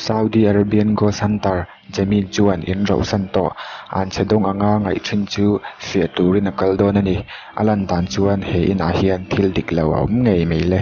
Saudi Arabian Ghost Hunter Jamil chuan in rohsan tawh an chhe dawng anga ngaih thin chu fiah turin a kal dawn a ni. A lan dan chuan he inah hian thil dik lo a awm ngei mai le.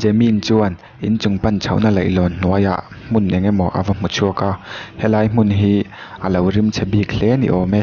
Jemmy-in chuan in chung pan chhohna leihlawn hnuaiah hmun eng emaw a va hmu chhuak a, helai hmun hi a lo rim chhe bik hle ni awm e.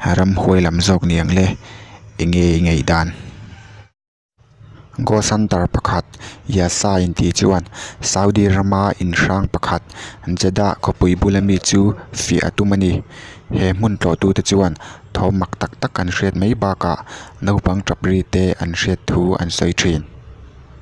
Ram huai lam zawk niang le enge i ngeih dan? Gawsantar pakhat Yasai'n tih chuan Saudi rama inhrang pakhat Jeddah khawpui bula mi chu fiah a tum a ni. He hmun tlawhtute chuan thaw mak tak tak an hriat mai bakah naupang ṭap rite an hriat thu an sawi ṭhin.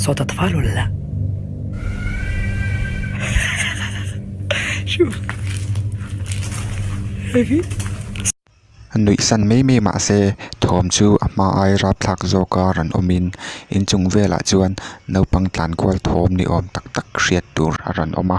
Sawta tava lo la. Shoo. Heavy. Nuih san mai mai mah se thawm chu a hma ai rap thlak zawk a rawn awm in inchung velah chuan naupang tlan kual thawm ni awm tak tak hriat tur a rawn awm a.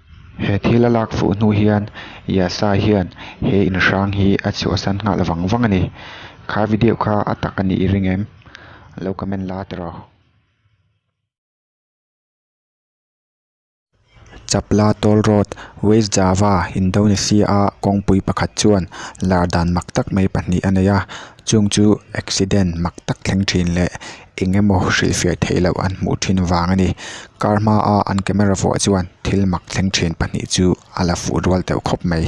He thil a lak fuh hnu hian Yasa hian he inhrang hi a chhuahsan nghal vang vang a ni. Kha video kha a tak a nih i ring em? Lo comment la tawh rawh. Chapla Tawl Road, West Java, Indonesia-a kawngpui pakhat chuan lar dan mak tak mai pahnih a nei a, chung chu accident mak tak thleng thin leh eng emaw hrilhfiah theih loh an hmuh thin vang a ni car hma a an camera vuah chuan thil mak thleng thin pahnih chu a la fuh rual teuh khawp mai.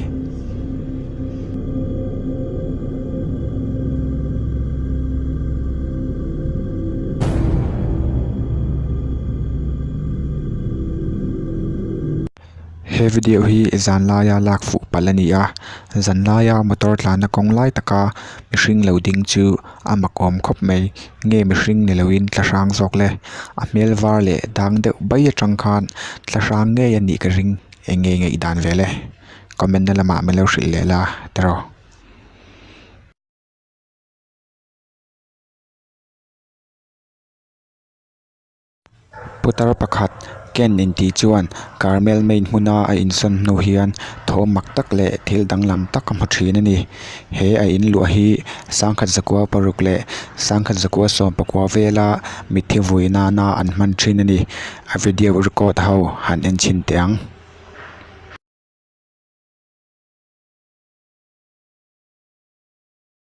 He video hi zanlaia lak fuh pal a ni a, zanlaia motor tlana kawng lai taka mihring lo ding chu a makawm khawp mai, nge mihring ni loin tla hrang zawk le? A hmel var leh dang deuh bai atang khan tla hrang ngei a nih ka ring eng nge ngeih dan ve le? Comment na lamah min lo hrilh leh la ta rawh. Putar pakhat Ken in tih chuan Carmel main hmuna a in sawn hnu hian thaw mak tak leh thil danglam tak a hmu thin a ni. He a in luah hi Sangkhat Zakua paruk leh Sangkhat Zakua sawmpakua vela mitthi vui nana an hman thin a ni. A video record ho han en chhin teh ang.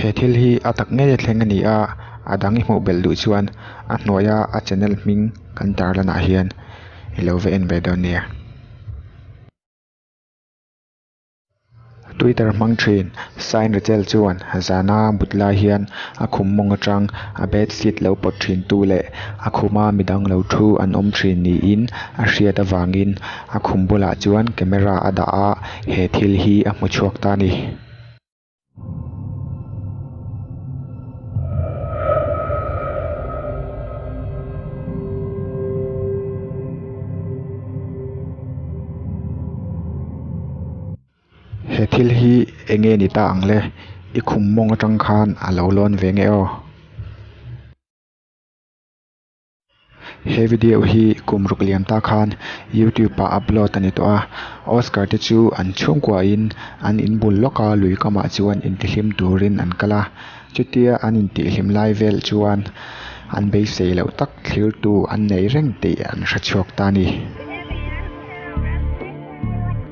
He thil hi a tak ngei a thleng a ni a, a dang i hmuh belh duh chuan a hnuaia a channel hming kan tar lanah hian i lo ve en ve dawn nia. Twitter hmang thin, Sain Rachel chuan zana mut lai hian a khum mawng atang a bed sheet lo pawt thin tu leh a khuma midang lo thu an awm thin niin a hriat avangin a khum bulah chuan camera a dah a, he thil hi a hmu chhuak ta a ni. he thil hi eng nge ni ta ang le i khum mawng atang khan a lo lawn ve nge aw. He video hi kum ruk liam ta khan YouTube ah upload a ni tawh a, Oscar te chu an chhungkua in an in bul lawk a lui kamah chuan intihlim turin an kal a, chutia an intihlim lai vel chuan an beisei loh tak thlir tu an nei reng tih an hre chhuak ta a ni.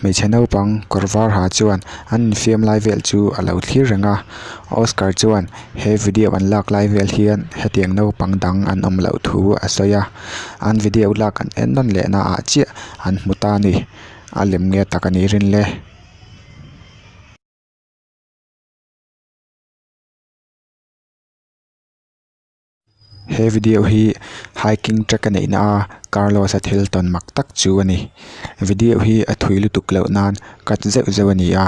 hmeichhe naupang kawr var ha chuan an infiam lai vel chu a lo thlir reng a oscar chuan he video an lak lai vel hian hetiang naupang dang an awm loh thu a sawi a an video lak an en rawn leh na ah chiah an hmu ta a ni a lem nge tak a nih rin le. He video hi hiking track a neihna a Carlos a thil tawn mak tak chu a ni. Video hi a thui lutuk loh nan cut zeuh zeuh a ni a,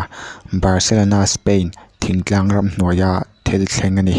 Barcelona, Spain thingtlang ram hnuaia thil thleng a ni.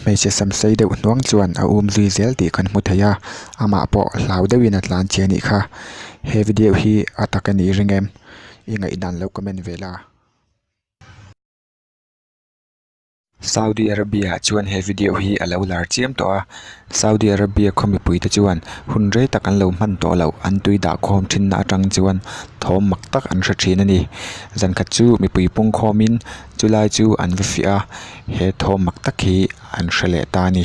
Hmeichhe sam sei deuh hnuang chuan a um zui zel tih kan hmu thei a, amah pawh hlau deuhin a tlan che anih kha. He video hi a ta ka ni reng em? I ngaihdan lo comment ve la. Saudi Arabia chuan he video hi a lo lar chiam tawh a. Saudi Arabia khaw mipui te chuan hun rei tak an lo hman tawh loh, an tui dah khawm thinna atang chuan thawm mak tak an hre thin a ni. Zan khat chu mipui pungkhawmin chu lai chu an va fiah a, he thawm mak tak hi an hre leh ta a ni.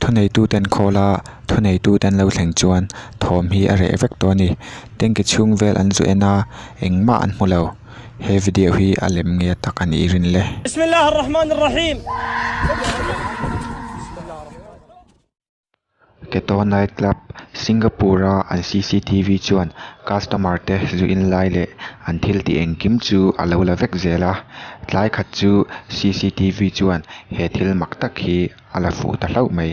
Thuneituten khawla thuneitute an lo thleng chuan thawm hi a reh vek tawh a ni. Tanki chhung vel an zu en a, engmah an hmu lo. He video hi a lem nge tak a nih rin le. Keto Night Club, Singapore-a an CCTV chuan customer te zu in lai leh an thil ti engkim chu a lo la vek zel a. Tlai khat chu CCTV chuan he thil mak tak hi a la fuh ta hlauh mai.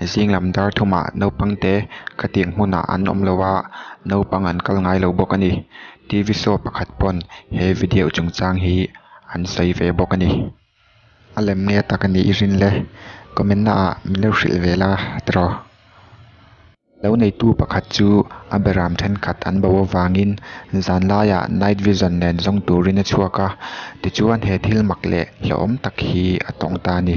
Zinglam dar thuma naupangte khatiang hmunah an awm lo a, naupang an kal ngai lo bawk a ni. TV show pakhat pawn he video chungchang hi an sawi ve bawk a ni. A lem nge tak a nih i rin le? Comment na ah min lo hrilh ve la tiraw? Lo neitu pakhat chu a beram thenkhat an bo avangin zan laia night vision nen zawng turin a chhuak a, tichuan he thil mak leh hlauhawm tak hi a tawng ta a ni.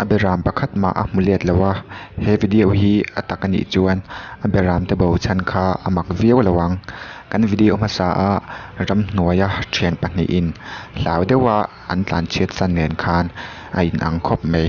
a be ram pakhat mah a hmu let lo a he video hi a tak a nih chuan a be ram te bo chhan kha a mak viau lo ang kan video hmasa a ramhnuaia thian pahnih in hlau deuh a-- an tlanchhiat san nen khan a inang khawp mai.